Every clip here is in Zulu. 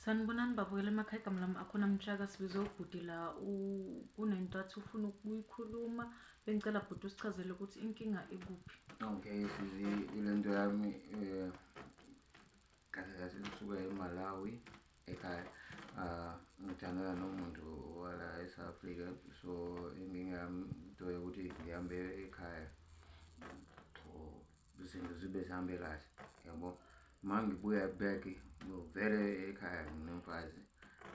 Sanibonani babukela emakhaya igama lami akhona mtshaka sibize ubhuti la kunento athi ufuna ukuyikhuluma bengicela bhuti usichazele ukuthi inkinga ikuphi okay sizi ile nto yami um kahle kahle kusuka emalawi ekhaya um ngithandana nomuntu wala e-south africa so inkinga yami into yokuthi ngihambe ekhaya izinto zibe zihambe kahle yabo uma ngibuya back ngivele ekhaya nginomfazi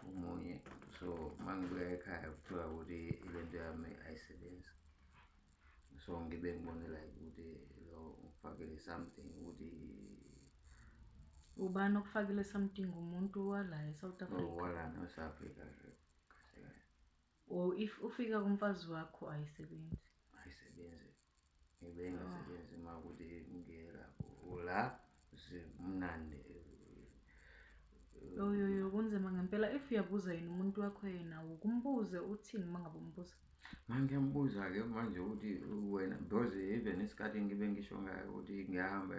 omunye so uma ngibuya ekhaya kuthiwa ukuthi ile nto yami ayisebenzi so ngibe ngibone like ukuthi lo ufakele something ukuthi ubani okufakile something umuntu wala e-south africa oh, wala no-south africa or if ufika kumfazi wakho ayisebenzi ayisebenzi ngibe ngasebenzi uma kuthi ngiyela la simnandi yoyoyo kunzima ngempela if uyabuza yini umuntu wakho yena ukumbuze uthini uma ngabe umbuza mangiyamubuza-ke manje ukuthi wena because even isikhathi ngibe ngisho ngayo ukuthi ngiyahamba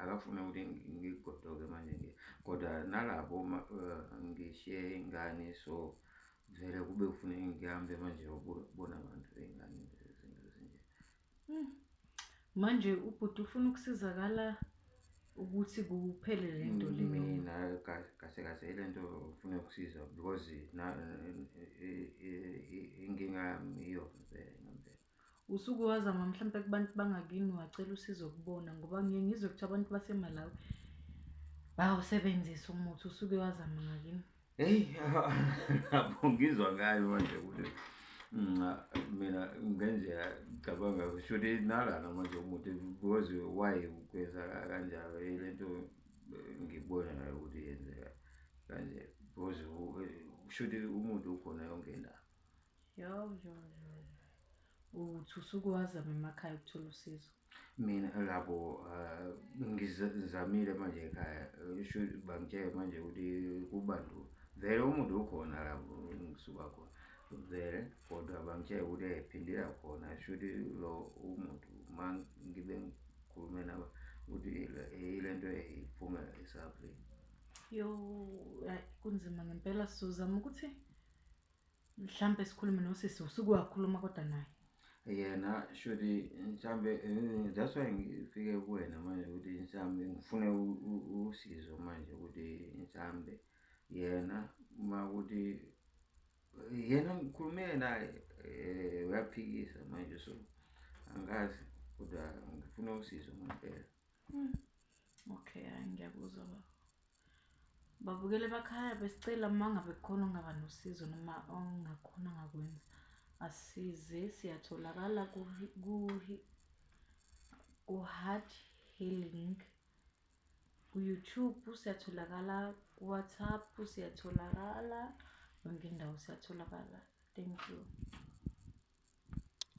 akafune ukuthi ngigodoke manje nje kodwa nalapho eh, ngishiye ingane so Vele kube kufuneka ngihambe manje yobona abantu bengane nje izinto ezinje. Manje ubhuti ufuna ukusizakala ukuthi kuphele le nto le. Mina ka- kahle kahle ile nto ufuna ukusiza because na- i- i- i- inkinga yami iyona vele ngempela. Usuke wazama mhlampe kubantu bangakini wacela usizo kubona ngoba ngiye ngizwe ukuthi abantu baseMalawi bawusebenzisa umuthi usuke wazama ngakini. Hey, lapho ngizwa ngayo manje ukuthi nca mina ngendlela ngicabanga shuthi nalana manje umuthi because why ukwenza kanjalo lento ngibona nayo ukuthi yenzeka kanje because shuthi umuntu ukhona yonke indawo. Yo, yo, yo. Uthi usuke wazama emakhaya ukuthola usizo. Mina labo eh, ngizamile manje ekhaya eh, sho bangitshele manje ukuthi kubandula. Vele umuntu ukhona lapho ngisuka khona. Vele kodwa bangitshele ukuthi ephindela khona sho ukuthi lo umuntu uma ngibe ngikhulume nabo ukuthi yile nto eyiphumela esabrini. Yo, kunzima ngempela sizozama ukuthi mhlampe sikhulume nosisi usuke wakhuluma kodwa naye yena shuthi mhlampe eh, that's why ngifike kuwena manje ukuthi mhlampe ngifune usizo manje ukuthi mhlampe yena uma ukuthi yena ngikhulume naye um uyaphikisa manje so angazi kodwa ngifuna usizo ngempela hmm. okay hayi ngiyakuzwa baba Babukeli bakhaya besicela uma ngabe kukhona ongaba nosizo noma ongakhona ngakwenza asize siyatholakala ku-heart healing ku-youtube siyatholakala ku-whatsapp siyatholakala yonke indawo siyatholakala thank you